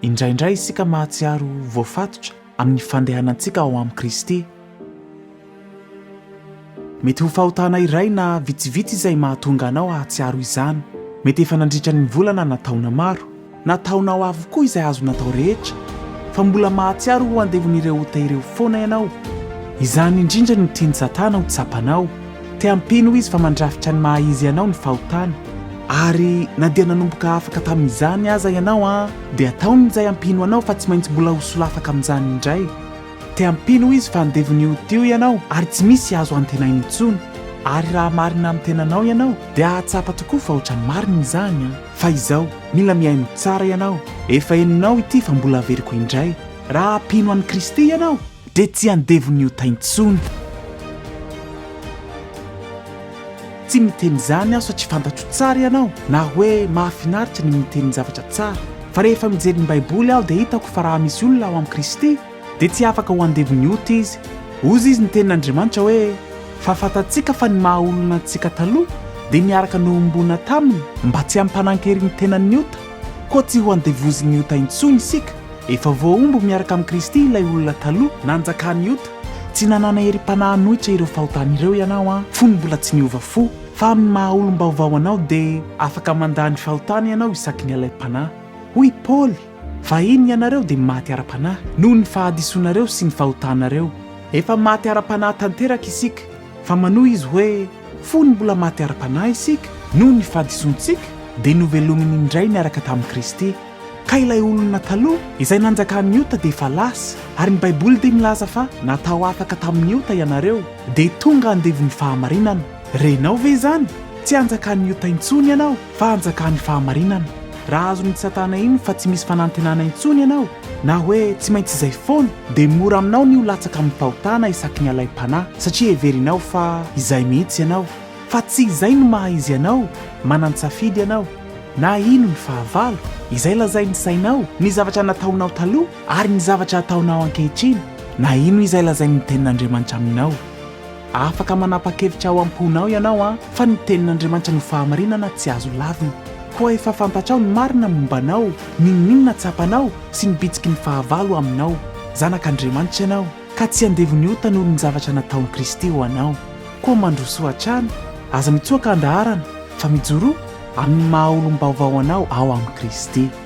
Indraindray isika mahatsiaro ho voafatotra amin'ny fandehanantsika ao amin'i Kristy. Mety ho fahotana iray na vitsivitsy izay mahatonga anao hahatsiaro izany. Mety efa nandritra ny volana na taona maro, na taonao avokoa izay azo natao rehetra, fa mbola mahatsiaro ho andevon'ireo ota ireo foana ianao. Izany indrindra no tian'i Satana ho tsapanao. Te hampino izy fa mandrafitra ny maha izy anao ny fahotana, ary na dia nanomboka afaka tamin'izany aza ianao an, dia ataony izay hampino anao fa tsy maintsy mbola ho solafaka amin'izany indray. Te hampino izy fa andevon'io tio ianao ary tsy misy azo antenaina intsony, ary raha marina amin'ny tenanao ianao dia hahatsapa tokoa fa ohatran'ny marina izany an. Fa izao, mila mihaino tsara ianao, efa henonao ity fa mbola averiko indray, raha hampino an'i Kristy ianao, dia tsy andevon'ny ota intsony. Tsy miteny izany aho satria fantatro tsara ianao na hoe mahafinaritra ny miteny ny zavatra tsara, fa rehefa mijery ny Baiboly aho dia hitako fa raha misy olona ao amin'i Kristy dia tsy afaka ho andevon'ny ota izy. Hozy izy ny tenin'Andriamanitra hoe, Fa fantatsika fa ny maha-olona antsika taloha dia niaraka nohomboana taminy mba tsy hampanan-kery ny tenan'ny ota, Koa tsy ho andevozin'ny ota intsony isika. Efa voahombo miaraka amin'i Kristy ilay olona taloha, nanjakan'ny ota. Tsy nanana herim-panahy hanohitra ireo fahotany ireo ianao an, fony mbola tsy niova fo. Fa amin'ny maha olom-baovao anao dia afaka mandà ny fahotany ianao isaky ny alaim-panahy. Hoy i Paoly, Fahiny ianareo dia maty ara-panahy, noho ny fahadisoanareo sy ny fahotanareo. Efa maty ara-panahy tanteraka isika. Fa manohy izy hoe, Fony mbola maty ara-panahy isika, noho ny fahadisoantsika, dia novelominy indray niaraka tamin'i Kristy. Ka ilay olona taloha, izay nanjakan'ny ota dia efa lasa, ary ny Baiboly dia milaza fa natao afaka tamin'ny ota ianareo, dia tonga andevon'ny fahamarinana. Renao ve izany? Tsy hanjakan'ny ota intsony ianao, fa hanjakan'ny fahamarinana. Raha azon'i Satana iny fa tsy misy fanantenana intsony ianao, na hoe tsy maintsy izay foana, dia mora aminao ny ho latsaka amin'ny fahotana isaky ny alaim-panahy, satria heverinao fa izay mihitsy ianao. Fa tsy izay no maha izy anao, manan-tsafidy ianao. Na ino ny fahavalo, izay lazain'ny sainao, ny zavatra nataonao taloha, ary ny zavatra ataonao ankehitriny, na ino izay lazain'ny Tenin'Andriamanitra aminao. Afaka manapa-kevitra ao am-ponao ianao fa ny Tenin'Andriamanitra no fahamarinana tsy azo lavina. Koa efa fantatrao ny marina momba anao, n'inon'inona tsapanao sy ny bitsiky ny fahavalo aminao. Zanak'Andriamanitra ianao, ka tsy andevon'ny ota noho ny zavatra nataon'i Kristy ho anao. Koa mandrosoa hatrany, aza mitsoaka handaharana, fa mijoroa amin'ny maha-olom-baovao anao ao amin'i Kristy.